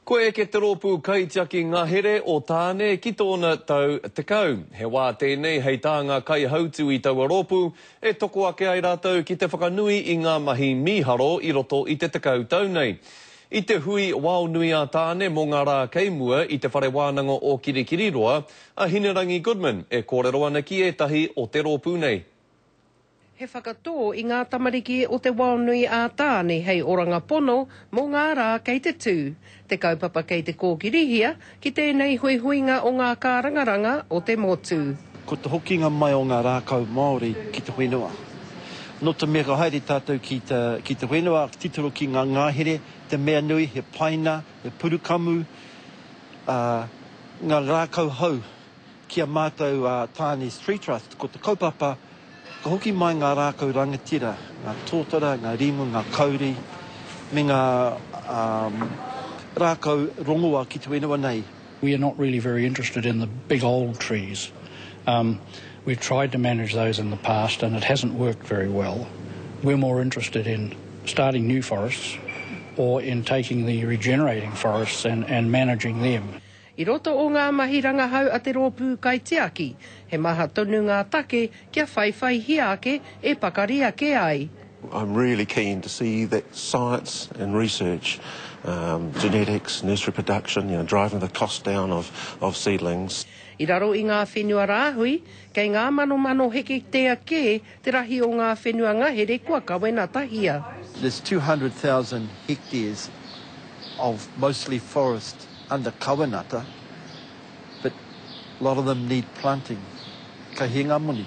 Kua eke te rōpū kaitiaki ngahere o Tāne ki tōna tau tekau. He wā tēnei hei tā ngā kaihautū i taua rōpū e toko ake ai rātou ki te whakanui i ngā mahi mīharo i roto i te tekau tau nei. I te hui Waonui a Tāne mō ngā rā kei mua i Te Whare Wānanga o Kirikiriroa a Hinerangi Goodman e kōrero ana ki ētahi o te rōpū nei. He whakatō i ngā tamariki o te wao nui a Tāne hei oranga pono mō ngā rā kei te tū te kaupapa kei te kōkirihia ki tēnei huihuinga o ngā kārangaranga o te motu. Ko te hokinga mai o ngā rākau Māori ki te whenua. Nō te mea ka haere tātou ki te whenua, ka titiro ki ngā ngahere, te mea nui, he paina, he purukamu, ā, ngā rākau hou Ki a mātou a Tāne's Tree Trust, ko te kaupapa, ka hoki mai ngā rākau rangatira, ngā tōtara, ngā rimu, ngā kauri, me ngā rākau rongoa ki te whenua nei. We are not really very interested in the big old trees. We've tried to manage those in the past and it hasn't worked very well. We're more interested in starting new forests or in taking the regenerating forests and managing them. I roto o ngā mahi rangahau a te rōpū kaitiaki, he maha tonu ngā take kia whaiwhaihia ake e pakari ake ai. I'm really keen to see that science and research, genetics, nursery production, you know, driving the cost down of of seedlings. I raro i ngā whenua rāhui, kei ngā manomano heketea kē Te rahi o ngā whenua ngahere kua kawenatahia. There's 200,000 hectares of mostly forest under kawenata but lot of them need planting. Ka hē ngā moni.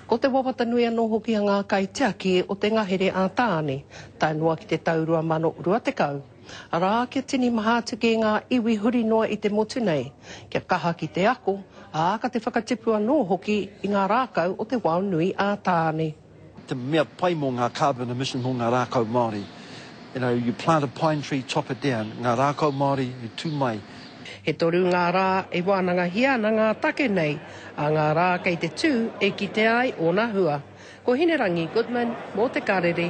Ko te wawata nui anō hoki a ngā kaitiaki o te ngahere a Tāne, tae noa ki te tau 2020. Arā, kia tini maha atu ki ngā iwi huri noa i te motu nei, kia kaha ki te ako, ā, ka te whakatipu anō hoki i ngā rākau o te wao nui ā Tāne. te mea pai mō ngā carbon emission mō ngā rākau Māori. You know, you plant a pine tree, chop it down, ngā rākau Māori i tū mai. He toru ngā rā e wānangahia ana ngā take nei, ā ngā rā kei te tū e kitea ai ōna hua. Ko Hinerangi Goodman mō Te Karere.